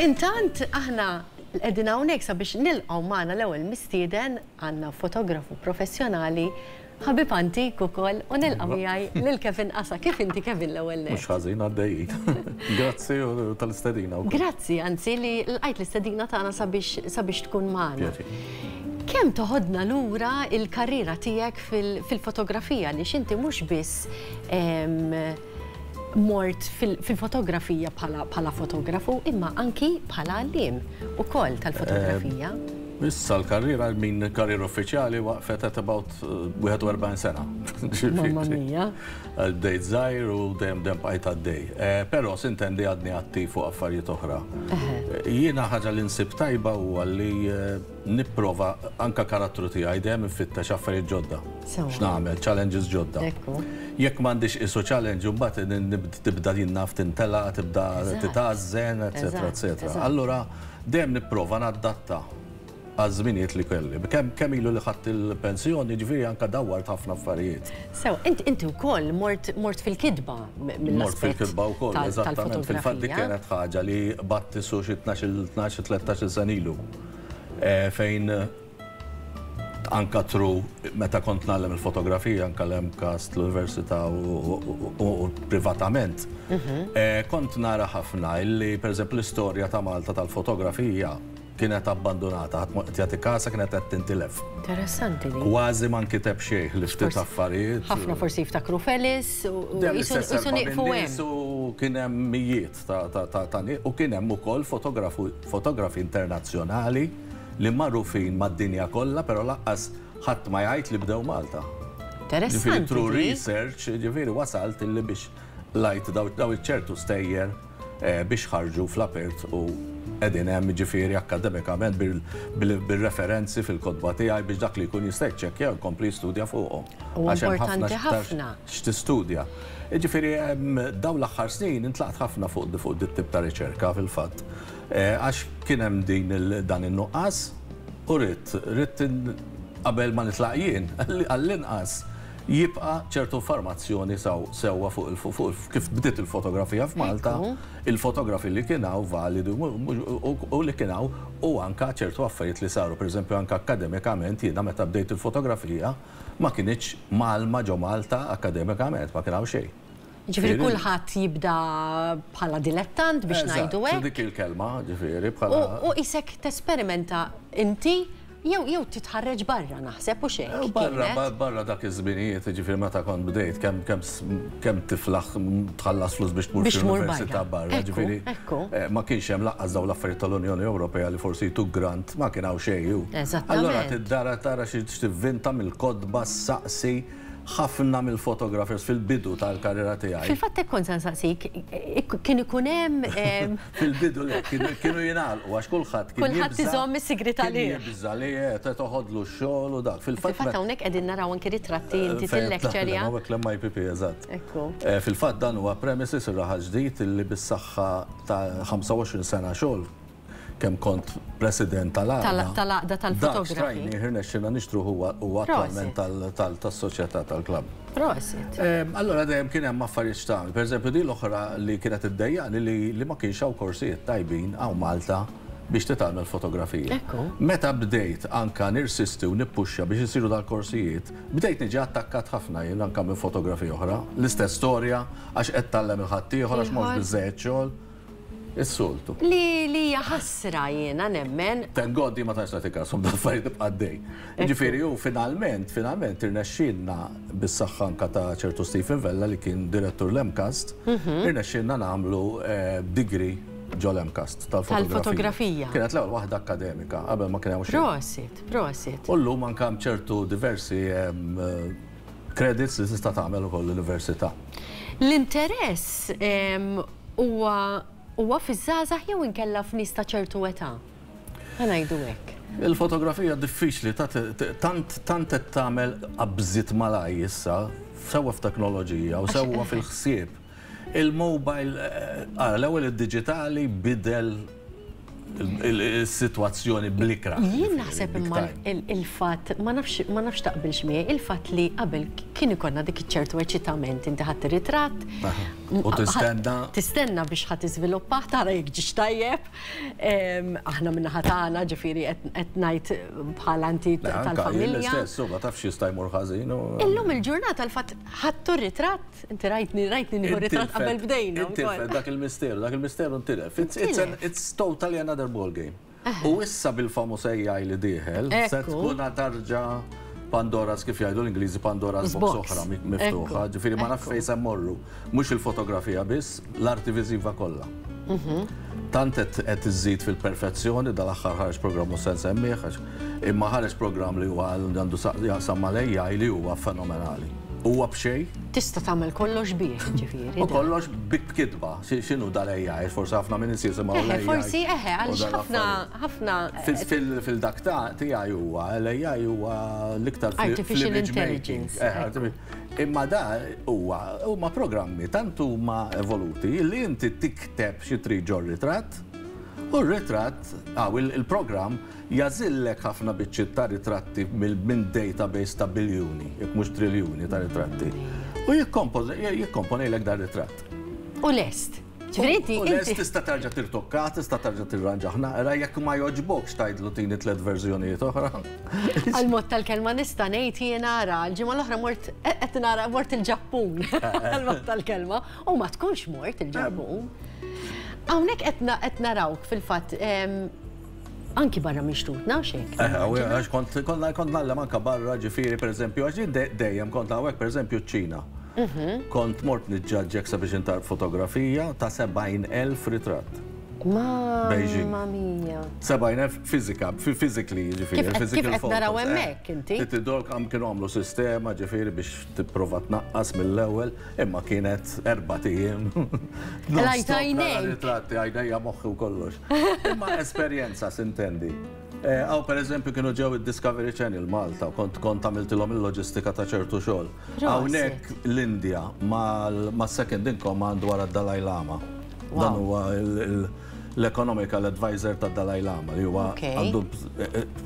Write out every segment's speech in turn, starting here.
Intant aħna qegħdin hawnhekk sabiex nilqgħu magħna l-ewwel mistieden, għandna fotografu professjonali, ħabib antik ukoll u nilqa' miegħi lil Kevin Qasa. Kif inti Kevin l-ewwel nett? Mhux ħażin għaddejjin. Grazzi tal-istedina wkoll. Grazzi anzi li lqajt l-istedina tagħna sabiex tkun magħna. Kemm toħodna lura l-karriera tiegħek fil-fotografija għaliex inti mhux biss mort fil-fotografija bħala fotografu imma anki bħala għalliem ukoll tal-fotografija. Issa l-karriera, min karriera uffiċjali waqfet at about 41 sena. Mamma mia. Bdejt żgħir u dejjem dejjem bqajt għaddej. Però sintendi għadni attiv fuq affarijiet oħra. Jiena ħaġa li nsib tajba huwa li Nipprova, anke karattru tiegħi, dejjem infittex affarijiet ġodda. Sewwa. X'nagħmel, challenges ġodda. Ekku. Jekk m'għandix qisu challenge imbagħad in, in, tibda din naf tintela', tibda titgħażżen, etcetera, etcetera. Allura dejjem nipprova naddatta għaż-żminijiet li kelli. Kemm, kemm ilu li ħadt il-pensjoni, jiġifieri anke dawwart ħafna affarijiet. Sewwa, int, inti wkoll mort, mort fil-kitba mill-aspett. Mort fil-kitba wkoll, eżattament. Fil-fatt dik kienet ħaġa li batti su xi tnax-il, tnax, tlettax-il sena ilu. fejn anka tru meta kont nagħlem il-fotografija anka l-MCAS, l-Università u privatament, kont nara ħafna illi pereżempju l-istorja ta' Malta tal-fotografija kienet abbandunata, ħadd ma kien qed jagħti kasha kienet qed tintilef. Interessanti din. Kważi ma nkiteb xejn ħlief ftit affarijiet. Ħafna forsi jiftakru f'Ellis u qisu nieqfu hemm. Kien hemm mijiet. ta' nieq u kien hemm ukoll fotografi internazzjonali li magħrufin mad-dinja kollha però lanqas ħadd ma jgħid li bdew Malta. Interessanti dik. Through research jiġifieri wasalt illi biex lajt dawn iċ-ċertu stejjer biex ħarġu fl-apert u qegħdin hemm jiġifieri akkademikament bir-referenzi fil-kotba tiegħi biex dak li jkun jista' jiċċekkja u jkompli jistudja fuqhom għax hemm ħafna x'aktarx. Huwa importanti ħafna. x'tistudja. Jiġifieri dawn l-aħħar snin intlaqt ħafna fuq fuq dit-tip ta' riċerka fil-fatt. Għax kien hemm din dan in-nuqqas u ridt ridt qabel ma nitlaq jien għall-inqas jibqa' ċertu informazzjoni sewwa fuq kif bdiet il-fotografija f'Malta, il-fotografi li kien hawn validi u li kien hawn u anke ċertu affarijiet li saru. Pereżempju anke akkademikament jiena meta bdejt il-fotografija, Ma kinitx mgħallma ġo Malta akkademikament, ma kien hawn xejn. Jiġifieri kulħadd jibda bħala dilettant biex ngħidu hekk. Eżatt, dik hi l-kelma, jiġifieri bħala. U qisek tesperimenta inti jew titħarreġ barra naħseb hux hekk kienet? Barra, barra dak iż-żminijiet, jiġifieri meta kont bdejt kemm, kemm. kemm tiflaħ tħallas flus biex tmur f'università barra. Ġifieri ma kienx hemm lanqas dawn l-affarijiet tal-Unjoni Ewropea li forsi jtuk grant, ma kien hawn xejn hu. Allura tiddara tara xi tivvinta mill-kotba, ssaqsi ħafna mill-photographers fil-bidu tal-karriera tiegħi. Fil-fatt hekk kont se nsaqsik, kien ikun hemm Fil-bidu le, kienu jingħalqu għax kulħadd kien jibża'. Kulħadd iżomm is-sigriet għalih. Kien jibża' li qed toħodlu x-xogħol u dak. Fil-fatt. Fil-fatt hawnhekk qegħdin naraw anki ritratti inti fil-lecture ja. Hawnhekk l-MIPP eżatt. Ekku. Fil-fatt dan huwa premises ir-Raħal Ġdid li bis-saħħa ta' 25 sena xogħol kemm kont President tal-Għaqda. Tal-Għaqda tal-Fotografi. Dak xtrajnieh irnexxielna nixtruh huwa attwalment tal-Soċjetà tal-Klabb. Prosit. Allora dejjem kien hemm affarijiet x'tagħmel. Pereżempju din l-oħra li kienet iddejjaqni li ma kienx hawn korsijiet tajbin hawn Malta biex titgħallem fotografija. Meta bdejt anke nirsisti u nippuxxa biex isiru dal-korsijiet, bdejt niġi attakkat ħafna jien anke minn fotografi oħra. L-istess storja, għax qed tgħallem il-ħaddieħor, għax m'hawnx biżżejjed xogħol. Is-soltu. Li li hija ħasra jiena nemmen. Thank God hi ma tantx tagħti kashom dal-affarijiet tibqa' għaddej. Jiġifieri hu finalment, finalment irnexxielna bis-saħħa anke ta' ċertu Stephen Vella li kien direttur l-MCAST, irnexxielna nagħmlu degree ġol-MCAST tal-fotografija. Tal-fotografija. Kienet l-ewwel waħda akkademika qabel ma kien hawn xejn. Prosit, prosit. U llum anke hemm ċertu diversi Credits li tista' tagħmel ukoll l-Università. L-interess huwa huwa fiż-żgħażagħ jew inkella f'nies ta' ċertu età? Ħa ngħidu hekk. Il-fotografija diffiċli ta' tant tant qed tagħmel qabżiet malajr issa sewwa f'teknoloġija u sewwa fil-ħsieb. Il-mobile, ara, l-ewwel id-diġitali bidel is-sitwazzjoni bl-ikrah. Jien naħseb imma il-fatt, ma nafx taqbilx miegħi, il-fatt li qabel kien ikollna dik iċ-ċertu eċitament, inti ħadt ir-ritratt, u tistenna, tistenna biex ħa tiżviluppah, tara jekk ġiex tajjeb, aħna min-naħa tagħna, ġifieri qed ngħid bħala inti tal-familja. L-istess, u ma tafx x'jista' jmur ħażin. Illum il-ġurnata l-fatt ħadtu r-ritratt, Inti rajtni, rajtni nieħu ritratt qabel bdejna. Intilfet dak il-misteru, dak il-misteru intilef. It's totally another ball game. U issa bil-famuż AI li dieħel, se tkun tarġa Pandora's kif jgħidu l-Ingliżi Pandora's box oħra miftuħa, ġifieri ma nafx fejn se mmorru. Mhux il-fotografija biss, l-arti viżiva kollha. Tant qed qed iżżid fil-perfezzjoni, dal-aħħar ħareġ programm mhux se nsemmih għax imma ħareġ programm li huwa għandu sa- jaqsam mal-AI li huwa fenomenali. Huwa b'xejn Tista' tagħmel kollox bih, ġifieri. u dan. kollox bi b'kitba. Xi- X'inhu dal-AI? Forsi ħafna minn nies jisimgħu Eħe, l-AI. forsi eħe, u għaliex dan ħafna l-affarijiet. ħafna Fil- fil- Fil-dak ta' tiegħi huwa, l-AI huwa l-iktar fl- Artificial fl-image making. intelligence, Eħe, ekku. artifi- Imma da huwa huma programmi tant huma evoluti li inti tikteb xi trid ġo ritratt u r-ritratt aw il-programm jagħżillek ħafna biċċiet ta' ritratti minn database ta' biljuni, jekk mhux triljuni ta' ritratti. U jikkomponejlek dar-ritratt. U lest. Ġifieri tista' terġa' tirtokka, tista' terġa' tirranġah naqra jekk ma jogħġbokx tgħidlu tini tliet verżjonijiet oħra. Għall-mod tal-kelma nista' ngħid jiena ara l-ġimgħa l-oħra mort qed nara mort il-Ġappun għall-mod tal-kelma u ma tkunx mort il-Ġappun. Hawnhekk qed narawk fil-fatt Anki barra minn xtutna, għax hekk. Eh, għax kont konna kont nallem anka barra ġifieri pereżempju għax dejjem kont hawnhekk pereżempju ċ-Ċina. Mhm. Kont mort niġġaġġek sabiex intar fotografija ta' 70,000 ritratt. Beijing. Ma mija. 70,000 fizika, physically ġifieri. Kif qed naraw hemmhekk inti? Titidolk għam kienu għamlu sistema ġifieri biex tipprova tnaqqas mill-ewwel, imma kienet erba' ijiem. Lajt għajnejk. Ritratti għajnejja moħħi u kollox. Imma esperjenza sintendi. Eh, għaw per eżempju kienu ġew il-Discovery Channel Malta, kont kont għamiltilhom il-loġistika ta' ċertu xogħol. Hawnhekk l-Indja ma' second in command wara d-Dalai Lama. Dan huwa il- l-economical adviser tad-Dalai Lama, li huwa għandu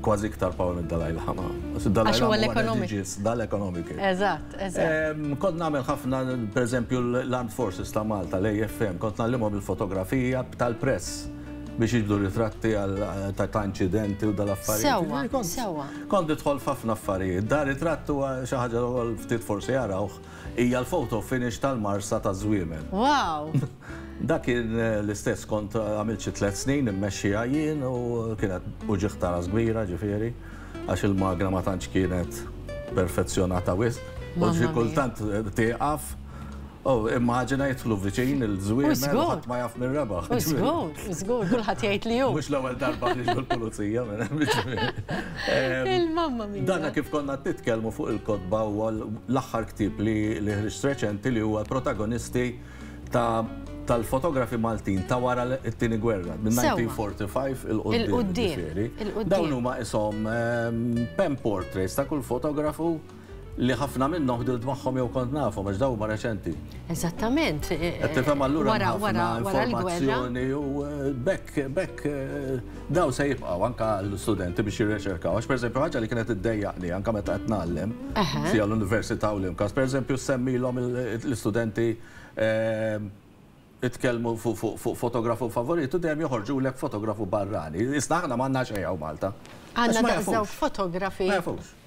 kważi iktar power mid-Dalai Lama. Għax huwa l-ekonomiku. Dal-ekonomiku. Eżatt, eżatt. Kont nagħmel ħafna, per eżempju, l-Armed Forces ta' Malta, l-AFM, kont ngħallimhom il-fotografija tal-press biex jiġbdu ritratti ta' inċidenti u dal-affarijiet. Sewwa, sewwa. Kont nidħol f'ħafna affarijiet. Dar ritratt huwa xi ħaġa li ftit forsi jarawh, hija l-photo finish tal-marsa taż-żwiemel. Wow! Dak kien l-istess kont għamilt xi tliet snin immexxiha jien u kienet uġigħ ta' ras kbira ġifieri għax il-magna ma tantx kienet perfezzjonata wisq u xi kultant tieqaf u immaġina jidħlu viċin il-żwiemel u ħadd ma jaf min rebaħ. U żgur, u żgur, kulħadd jgħid li hu. Mhux l-ewwel darba jiġu l-pulizija minn hemm ġifieri. Mamma mia. Dana kif konna qed nitkellmu fuq il-kotba huwa l-aħħar ktieb li ħriġt reċenti li huwa l-protagonisti ta' tal-fotografi Maltin ta' wara t-tieni gwerra, minn 1945 il-qoddim. Dawn huma isom ehm, pen portraits ta' kull fotografu li ħafna minnhom ħdilt magħhom jew kont nafhom għax dawn huma reċenti. Eżattament. Qed tifhem allura wara l-gwerra. U eh, bekk bekk eh, Dawn se jibqgħu anke għall-istudenti biex jirreċerkaw, għax pereżempju ħaġa li kienet iddejjaqni anke meta qed ngħallem fiha l-università u l-MCAS, pereżempju ssemmilhom l-istudenti jitkellmu fuq fotografu favorit u dejjem joħorġulek fotografu barrani. Isna aħna m'għandna xejn hawn Malta. Għandna daqs dawn fotografi. Ma jafux.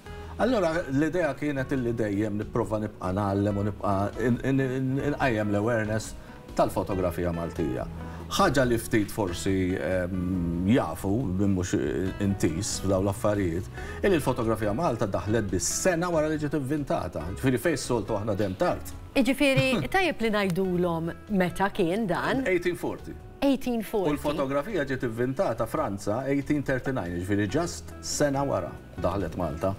Allura l-idea kienet illi dejjem nipprova nibqa' ngħallem u nibqa' inqajjem l-awareness tal-fotografija Maltija. Ħaġa li ftit forsi jafu, min mhux intiż f'dawn l-affarijiet, illi l-fotografija Malta daħlet biss sena wara li ġiet ivvintata. Ġifieri fejn s-soltu aħna dejjem tard. Jiġifieri tajjeb li ngħidulhom meta kien dan. 1840. 1840. U l-fotografija ġiet ivvintata Franza 1839, jiġifieri just sena wara. Daħlet Malta.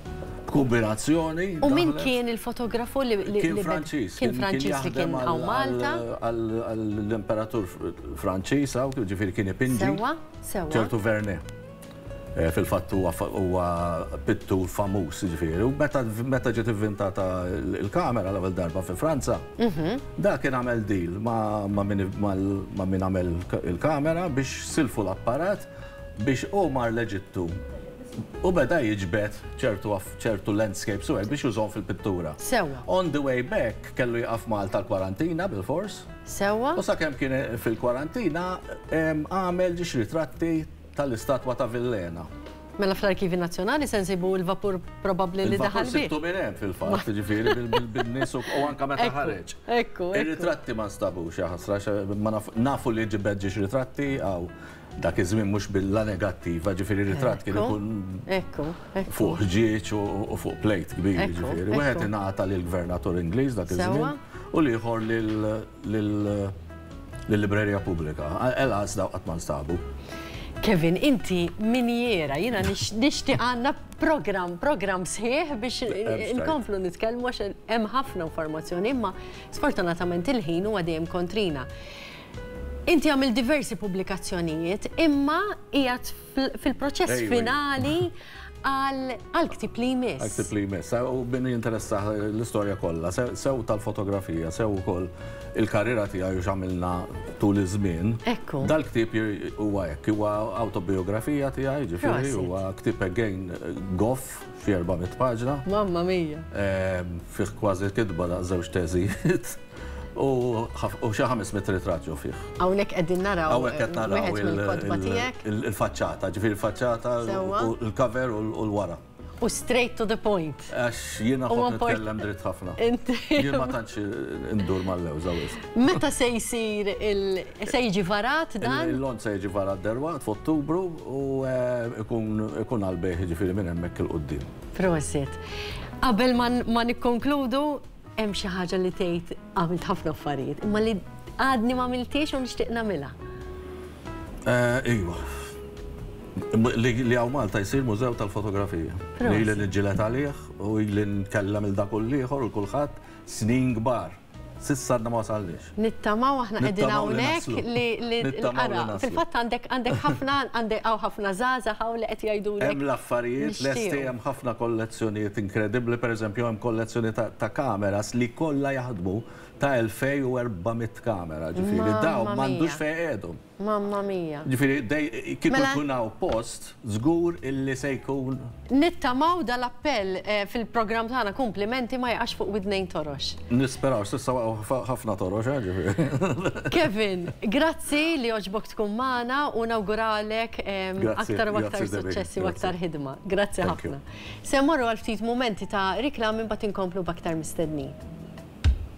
B'kumbinazzjoni. U min kien il-fotografu li kien Franċiż? Kien Franċiż li kien hawn Malta. L-imperatur Franċiż hawn, ġifieri kien ipinġi. Sewwa, sewwa. Ċertu Verne. Eh, fil-fatt huwa pittur famuż, ġifieri. U meta ġiet ivvintata l-kamera l-ewwel darba fi Franza, mhm. da kien għamel deal ma' min għamel il-kamera biex silfu l-apparat biex hu mar l-Eġittu u beda jiġbed ċertu ċertu landscapes u hekk biex jużahom fil-pittura. Sewwa. On the way back kellu jieqaf Malta l-kwarantina bilfors. Sewwa. U sakemm kien fil-kwarantina għamel ġiex ritratti tal-istatwa ta' Villena. Mela fl-Arkivji Nazzjonali se nsibu l-vapur probabbli li daħal bih. Il-vapur sibtu minn hemm fil-fatt, jiġifieri bin-nies u anke meta ħareġ. Ekku, ekku. Ir-ritratti ma nstabux, jaħasra, nafu li ġibed ġiex ritratti hawn. Dak iż-żmien mhux billa negattiva, ġifieri ritratt kien ikun fuq ħġieġ u fuq plejt kbir, ġifieri. Wieħed ingħata lill-Gvernatur Ingliż dak iż-żmien u l-ieħor lill-Librerija Pubblika. Elas dawk qatt ma nstabu. Kevin, inti minjiera, jiena nixtieq għandna programm, programm sħiħ biex inkomplu nitkellmu għax hemm ħafna informazzjoni, imma sfortunatament il-ħin huwa dejjem kontrina. Inti għamilt diversi pubblikazzjonijiet, imma qiegħed fil-proċess finali għal ktib li jmiss. Għal ktib li jmiss, eh, u bini jinteressa l-istorja kollha, sew tal-fotografija, sew ukoll il-karriera tiegħi u x'għamilna tul iż-żmien. Ekku. Dal-ktib huwa hekk, huwa autobiografija tiegħi, ġifieri huwa ktib again goff fi 400 paġna. Mamma mija. Ehm, fih kważi kitba da' żewġ teżijiet. U xi ħames mitt ritratt ġew fih. Hawnhekk qegħdin naraw. Hawnhekk qed naraw il-faċċata, ġifieri l-faċċata, il-cover u l-wara. U straight to the point. Għax jiena ħobb nitkellem dritt ħafna. Jien ma tantx indur mal-lewża wisq. Meta se jsir se jiġi varat dan? Il-lont se jiġi varat derwaqt f'Ottubru u eh, ikun għal-bejħ ġifieri minn hemmhekk il-qudiem. Prosit. Qabel ma nikkonkludu, Hemm xi ħaġa li tgħid għamilt ħafna affarijiet, imma li għadni ma għamiltiex u nixtieq nagħmilha. Eh, iva. Li għaw Malta jisir mużew tal-fotografija. Li li nġilet għalih u li nkellem il-dakull liħor u kullħat snin gbar. Sissa għadna ma wasallix. Nittamaw aħna qegħdin hawnhekk li l-qara. Fil-fatt għandek għandek ħafna għandek hawn ħafna żgħażagħ hawn li qed jgħidulek. Hemm l-affarijiet lesti hemm ħafna kollezzjonijiet inkredibbli, pereżempju hemm kollezzjoni ta' kameras li kollha jaħdmu ta' 2400 kamera, ġifieri dawn m'għandux fejn iqegħdhom. Mamma mia. Ġifieri dej, kieku Mela. jkun hawn post, żgur illi se jkun. Nittamaw dal-appell fil-programm tagħna Kumplimenti ma jaqax fuq widnejn torox. Nisperaw, s'issa waqgħu ħafna torox, eh, ġifieri. Kevin, grazzi li għoġbok tkun magħna u nawguralek aktar u aktar suċċessi u aktar ħidma. Grazzi ħafna. Se mmorru għal ftit mumenti ta' riklami mbagħad inkomplu b'aktar mistednin.